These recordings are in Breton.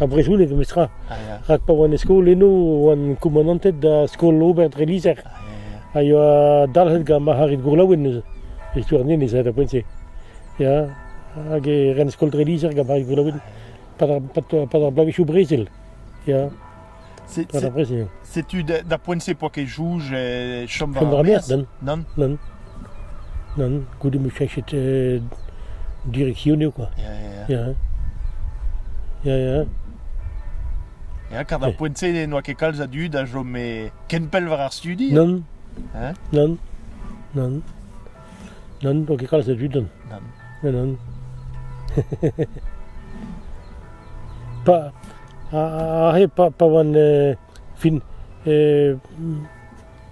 ar brezhoneg memestra. Rak pa oan e skol eno oan koumanantet da skol-ober dre lizher. A yoa dalc'het gant marc'harid gourlaouen neuze. E stuarnien ez aet ar poent-se. Ya, hag e ren skol dre lizher gant marc'harid gourlaouen pad ar, pad, pad ar bloavezhioù brezel. Ya. Setu da poent-se poa ket jouj e chom war ar maez. Nann. Nann. Nann, goude m'eo cheñchet direksionoù kwa. Ya, ya, ya. Ya, ya. Ya, kar d'ar poent-se n'oa ket kalz a dud a chome ken pell war ar studi. Nann. Hein? Nann. Nann. Nann, n'eo ket kalz a dud on. Nann. Nann, nann. pa, aze pa, pa oan euh, fin euh,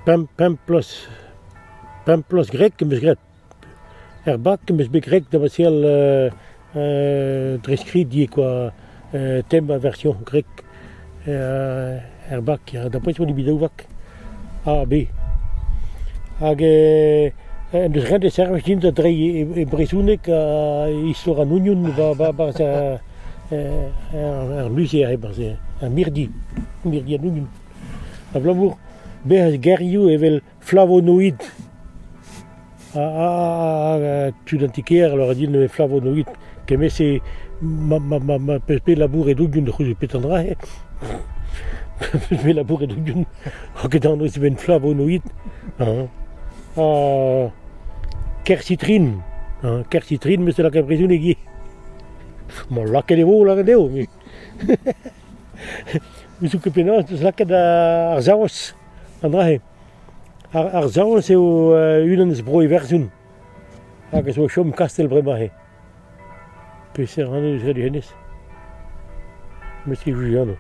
pemp, pemp bloaz, pemp bloaz greg em eus graet. Er bak em eus bet greg da baseal euh, dre skrid ivez kwa tem ar version grek er bak d'après on dit bidaouak A B hag en deus ret e servij din da dreiñ e brezhoneg ha istor an union barzh ar muzeer e-barzh ar mirdi mirdi an union abalamour bezañ gerioù evel Flavonoid tud an ti-kêr a lâra din eo flavonoid. Kement-se ma pe labouret oudion c'houde petra dra eo. Me labouret oudion ket anv eus flavonoid. Kersitrin. Kersitrin me se lakaat brezhoneg ivez. Ma lakaet e vo lakaet eo. Me zo ket penaos lakaat ar saoz. An dra-se. Ar, ar Saoz eo unan eus bro Iwerzhon hag a zo o chom kastell bremañ-se. Peseurt anv eus ret hennezh? Met e vuje anv.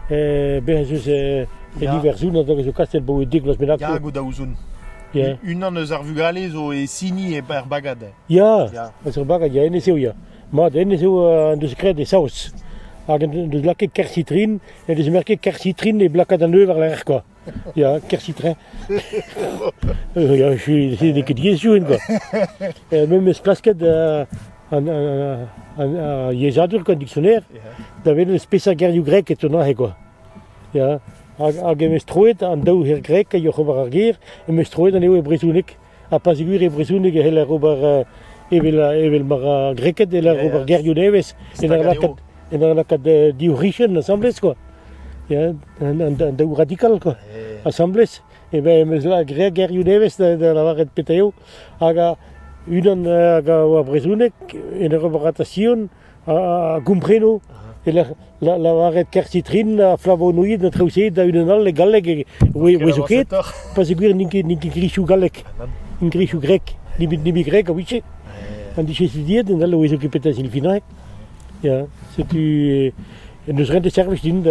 Eh, bez ez eus eh, en Iwerzhon an dog a zo kastell bro dek vloaz bennak. Ya, go da ouzon. Yeah. Unan eus ar vugale zo e sini e er bagad. Ya, Ya. eus ur bagad, ya, hennezh eo, ya. Mat, hennezh eo uh, an deus graet e Saoz. Hag en deus lakaet kersitrin ne vez ket kersitrin e blakad an eu war-lerc'h kwa. Ya, kersitrin. Euh, ya, je suis n'ai ket diaes youen quoi. Et memes klasket euh, an an an ar yezhadur quoi, dictionnaire, da welet spesa gerioù grek etunac'h quoi. Ya, hag hag em eus troet an daou ger grek a yoch ober ar ger, em eus troet anezho e brezhoneg. ha pas gwir e brezhoneg e c'heller ober evel evel ma ra greked e c'heller ober gerioù nevez en ur lakaat en ur lakaat div c'hichen asambles quoi ya an daou radikal quoi asambles e ben em eus graet gerioù nevez da lavaret petra eo hag unan hag a oa brezhoneg en ur ober ratasion a gompreno e lavaret kertitrin ha flavonoid a traoù-se da unan all e galleg e zo ket pa seguir n'int ket grisoù gallek n'int grisoù grek nimi grek a ouiche an dije studiet en all o ezo ket petra silfinaek ya setu n'eus ret e servij din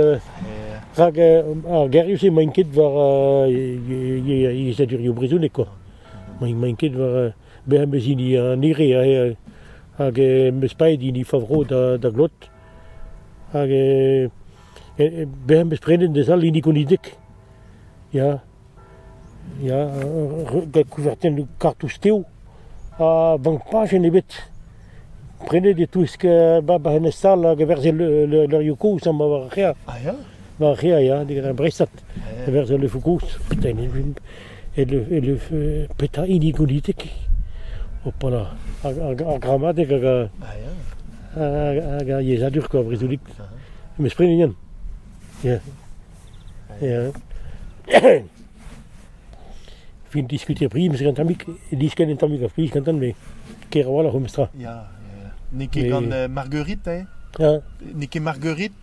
rak ar gerioù-se maint ket war yezhadurioù brezhonek quoi maint ket war Beñ 'm eus hini an hire hag em eus paeet hini Favrô da glot. Hag beñ am eus prenet d'ez all hini Gonideg. Ya, ya, gant kouvertennoù kartoù stev ha bank pajenn ebet. Prenet e-touesk Bab an Estal hag a-werzh e levrioù kozh amañ war ar c'hêr. Ah ya ? war re a ya digant ar breizhad e-berzh al leuvoù gozh petra petra hini gonitek opala ar gramadeg hag ar yezhadur kwa brezhonek mes prenet Yann ya fin diskutier priz gant tammik diskenn en tammik ar priz gantan me ker a-walc'h o mestra ya n'eo ket gant Marguerite n'eo ket Marguerite